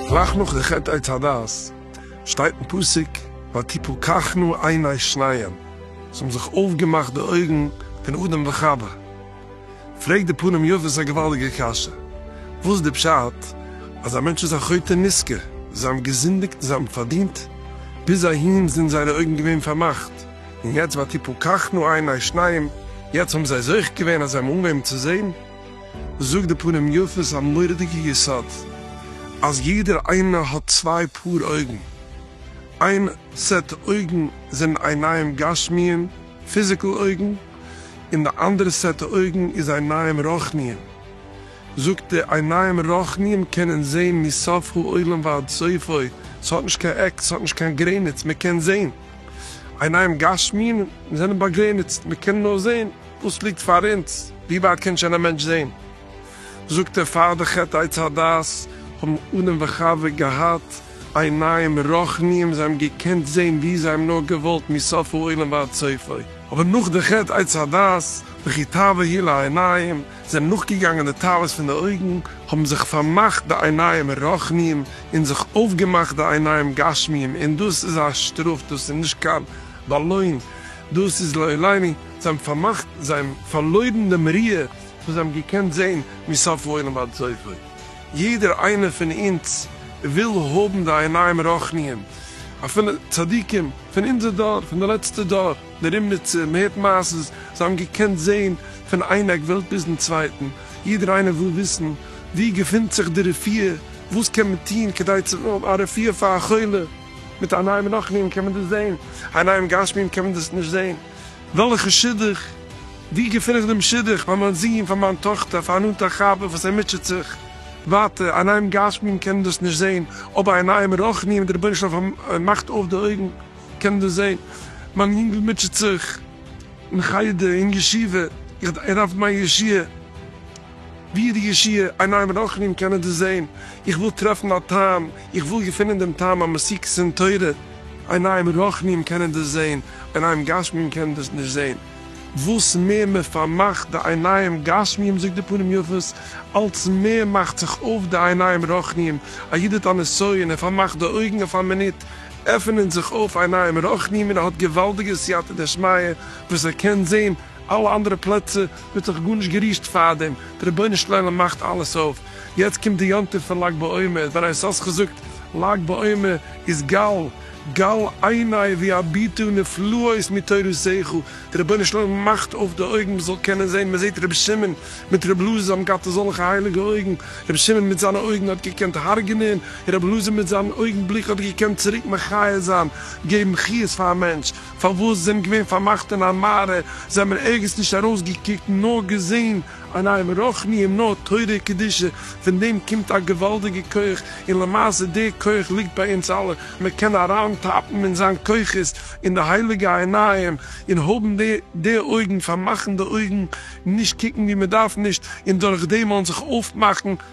גלייך נאך די חטא עץ הדעת שטייט אין פסוק ותפקחנה עיני שניהם, ס'האבן זיך אויפגעמאכט די אויגן פון אדם וחוה. פרעגט די פנים יפות א געוואלדיגע קשיא, וואס איז די פשט אז א מענטש איז א חוטא נזכר, זיי האבן געזינדיגט און זיי האבן פארדינט, ביז אהין זענען זייערע אויגן געווען פארמאכט, און יעצט ותפול קחנו עיני שניים, יעצט האבן זיי זוכה געווען אז זיי האבן אנגעהויבן צו זען? זאגט די פנים יפות א מורא'דיגע יסוד, אז יעדער איינער האט צוויי פאר אויגן, איין סעט אויגן זענען עיניים גשמיים פיזיקל אויגן, און די אנדערע סעטע אויגן איז עיניים רוחניים. זאגט די עיניים רוחניים קענען זעהן מסוף העולם ועד סופו, ס'האט נישט קיין עק, ס'האט נישט קיין גרעניץ, מ'קען זעהן. עיניים גשמיים זענען באגרעניצט, מ'קען נאר זעהן וואס ליגט פאר אונז, ווי ווייט קען שוין א מענטש זעהן? זאגט ער פאר די חטא עץ הדעת האבן אדם וחוה געהאט, עיניים רחניים, זיי האבן געקענט זעהן ווי זיי האבן נאר געוואלט מסוף העולם ועד סופו, אבער נאך די חטא עץ הדעת וכי תאווה היא לעיניים, זענען נאכגעגאנגען די תאוות פון די אויגן, האבן זיך פארמאכט די עיניים רחניים, און זיך אויפגעמאכט די עיניים גשמיים, און דאס איז א שטראף, דאס איז נישט קיין באלוין, דאס איז לא עליני, זיי האבן פארמאכט, זיי האבן פארלוירן דעם ראי' וואס זיי האבן געקענט זעהן מסוף העולם ועד סופו. יעדער איינער פון אונז וויל האבן די עיניים רוחניים, אפילו צדיקים פון אונזער דור, פון די לעצטע דור, די רימניצער, מען הערט מעשות, זיי האבן געקענט זען פון איין עק וועלט ביזן צווייטן, יעדער איינער וויל וויסן וואו געפינט זיך די רפואה, וואס קען מען טון כדי צו האבן א רפואה פאר א חולה, מיט עיניים רוחניים קען מען דאס זען, עיניים גשמיים קען מען דאס נישט זען. וועלכע שידוך? ווי געפין איך דעם שידוך פאר מיין זוהן פאר מיין טאכטער פאר א נאנטער חבר וואס ער מוטשעט זיך ווייטער אין עניים גשמיים קען ער דאס נישט זעהן אבער אין עניים רוחניים די רבונו של עולם פאר מאכט אויף די אויגן קען ער דאס זעהן מיין יונגל מוטשעט זיך אין חדר אין ישיבה איך ער דארף מיין ישועה. ווי די ישיעה עיניים רחמים קענען דאס זעהן, איך וויל טרעפן א טעם, איך וויל געפינען דעם טעם המסיקת אין תורה, עיניים רחמים קענען דאס זעהן, עיניים גשמיים קענען דאס נישט זעהן, וואס מער מען פארמאכט די עיניים גשמיים זאגט די פנים יפות, אלץ מער מאכט זיך אויף די עיניים רחניים, א איד האט א נסיון, ער פארמאכט די אויגן אויף א מינוט, עפענען זיך אויף עיניים רחניים און ער האט געוואלדיגע סייעתא דשמיא וואס ער קען זעהן אלע אנדערע פלעצער, מען האט זיך גארנישט גערישט פארדעם, דער רבונו של עולם מאכט אלעס אויף, יעצט קומט די יום טוב פון לג בעומר, דער א ס האט געזאגט לג בעומר איז גל גל עיני והביטו נפלאות מתורותיך, דער רבונו של עולם מאכט אויף די אויגן מען זאל קענען זען, מען זעט רבי שמעון מיט רבי אלעזר האבן געהאט אזעלכע הייליגע אויגן, רבי שמעון מיט זיינע אויגן האט געקענט הרג'נען, רבי אלעזר מיט זיין אויגן בליק האט געקענט צוריק מחיה זיין, געבן חיות פאר א מענטש, פארוואס זיי זענען געווען פארמאכט אין א מערה, זיי האבן ערגעץ נישט ארויסגעקוקט נאר געזען עניים רוחניים נאר תורה קדושה, פון דעם קומט א געוואלדיגע כח, און למעשה דער כח ליגט ביי אונז אלע, מען קען אריינטאפן אין זיין כוחות אין די הייליגע עיניים, און האבן די די אויגן, פארמאכן די אויגן, נישט קוקן ווי מען דארף נישט, און דורכדעם וועלן זיך אויפמאכן.